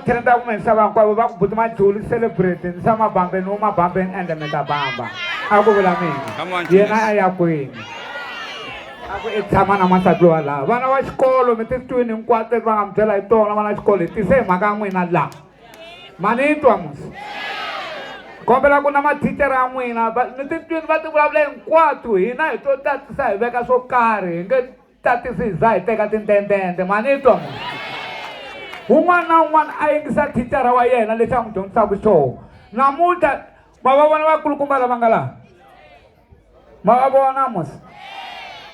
Tenda kumbe nhlava hinkwavo va ku buti majuli celebrate ni sa mabambeni wo mabambeni ende mi ta bamba a ku vula mina yena a ya kwini a ku i tshama na n'wansati lowa laha vana va xikolo mi ti twini hinkwato leti va nga mi byela hi tona vana va xikolo hi tise hi mhaka ya n'wina laha ma ni twa musi kombela ku na mathicara ya n'wina mi ti twini va ti vulavula hinkwato hina hi to tatisa hi veka swo karhi hi nge tatisi hi za hi teka tintentente mani twa un'wana na un'wana a yingisa thicara wa yena lexi a n'wi dyondzisaka xoho namuntlha ma va vona vakulukumba lava nga laha ma va vona mos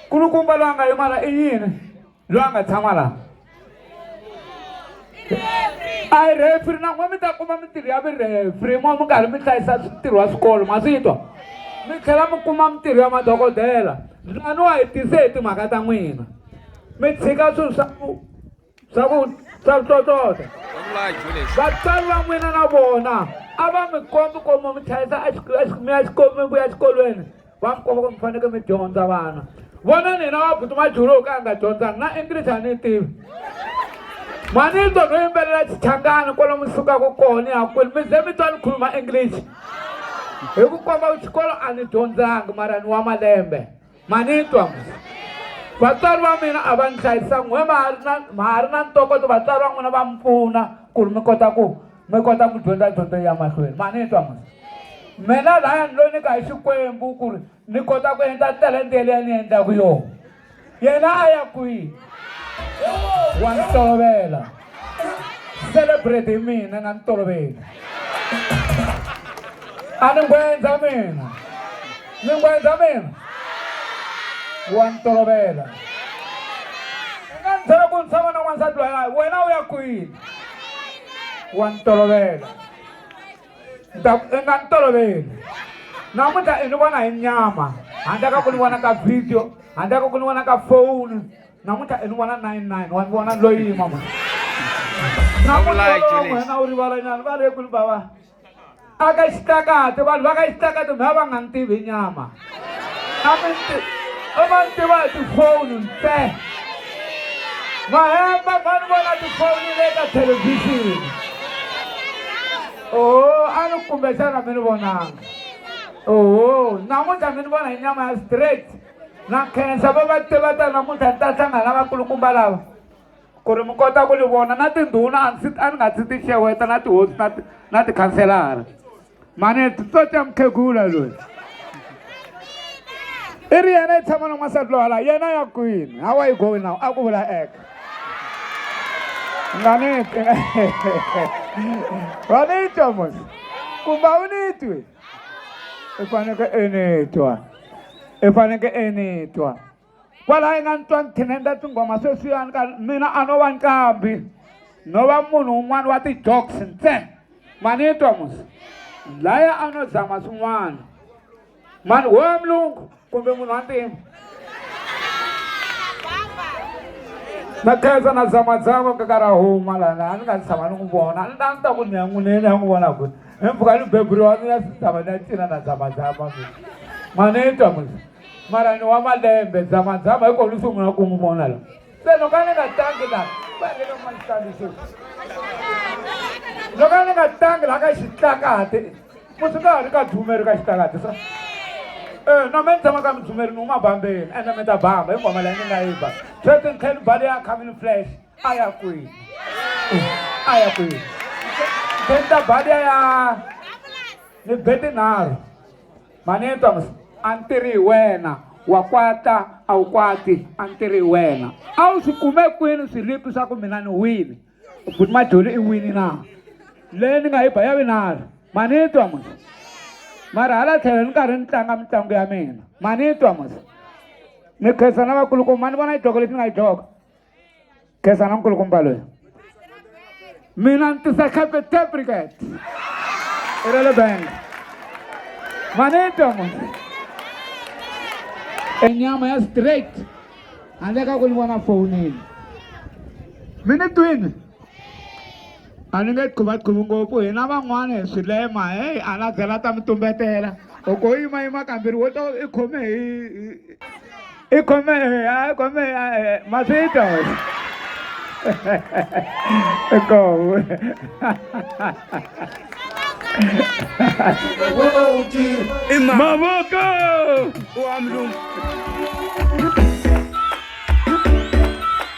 kulukumba loyi a nga yimala i yini loyi a nga tshama laha a hi refri na n'we mi ta kuma mintirho ya virefri n'we mi karhi mi hlayisa ntirho wa swikolo ma swi twa mi tlhela mi kuma mintirho ya madokodela lani wa hi tise hi timhaka ta n'wina mi tshika swilo swa ku swa ku swa ku tlotlota vatswari va n'wina na vona a va mi kombi komo mi hlayisa mi ya xikolweni mi vuya exikolweni va mi komba ku mi fanekele mi dyondza vana vona nina wa buti majulu ka a nga dyondzanga na english a ni tivi manito no yimbelela xichangani kwalo mi sukaka kona ya kwini mi ze mi twa ni khuluma english hi ku komba ku xikolo a ni dyondzanga mara ni wa malembe manitwa vatswari va mina a va ni hlayisa n'we ma ha ri na ma ha ri na ntokoto vatswari va n'wina va mi pfuna ku ri mi kota ku mi kota ku dyondza dyondzo ya mahlweni ma ni twa mona mina laya ni lo nyika hi xikwembu ku ri ni kota ku endla talente yeleya ni endlaku yona yena a ya kwihi wa ni tolovela celebrate hi mina nga ni toloveli a ni ngwendza mina ni ngwendza mina wa ni tolovela nga ni byela ku ni tshama na n'wansati loyi wena u ya kwini wa ni tolovela ni ta ku i nga ni toloveli namuntlha i ni vona hi nyama handle ka ku ni vona ka video handle ka ku ni vona ka foni namuntlha i ni vona nine nine wa ni vona loyi mama namuntlha wena u rivalanyana va le kuli bava aka xitakati vanhu va ka xitakati mi va va nga ni tivi nyama a mi ti a ma ni tiva hi tifoni nse mahemba va ni vona tifoni le ka thelevhixini oho a ni kumbexana mi ni vonanga oho namuntlha mi ni vona hi nyama ya straight na khensa va va tiva ta namuntlha ni ta hlangana vakulukumba lava ku ri mi kota ku ni vona na tindhuna a ndzi a ni nga ndzi ti xeweta na tihosi na na tikhanselara mane titsotsa mukhegula loyi i ri yena i tshama na n'wansati lowa laha yena ya kwini how are you going now a ku vula eka nga ni twi wa ni twa mos kumbe a wu ni twi i faneke i ni twa i faneke i ni twa kwalaho inga ni twa ni thinenda tinghoma sweswiyani ka mina a no va nqambi no va munhu un'wana wa ti-joks ntsena ma ni twa musa laya a no zama swin'wana mani wo ya mulungu kumbe munhu wa ntima na khensa na zamazama kakara huma lana a ni nga ni tshama ni n'wi vona a ni ta ni ta ku ni ya n'wineni ya n'wi vona ku hi mpfuka ni beburiwa ni ya sitava ni ya cina na zamazama mina ma ni twa musa mara ni wa malembe dzamadzama hi kona ni sungula ku n'wi vona la se loko a ni nga tangi la vanelemanxaniso loko a ni nga tangi la ka xitlakati musi ka ha ri ka dzumeri ka xitlakati sa eh, na me ni tshama ka midzumeri ni huma bambeni ende mi ta bamba hi ngoma leyi ni nga yi ba sweswi ni tlhe ni bale ya coming flash a ya kwini a ya kwini tlhe ni ta bale ya ni be tinharhu mhani ni twa mi a ni tirhi hi wena wa kwata a wu kwati a ni tirhi hi wena a wu swi kume kwini swilipi swa ku mina ni wini buti majoli i wini na leyi ni nga yi ba ya vinalo mhani ni twa musa mara hala tlhelo ni karhi ni tlanga mitlangu ya mina mhani ni twa musa ni khensa na vakulukumba ni vona yi dloko lexi ni nga yi dloko Khensani nkulu kumba loyi mina ni tisa cape tabricat i ra le bank manito e nyama ya straight handle ka ku ni vona fowunini mi ni twini a ni nge qhuvaqhuvi ngopfu hina van'wana hi swilema heyi a na byela ta mi tumbetela loko u yimayima kambirhi wo to i khome hi i khome a i khome masito kowe mavoko wa mlungu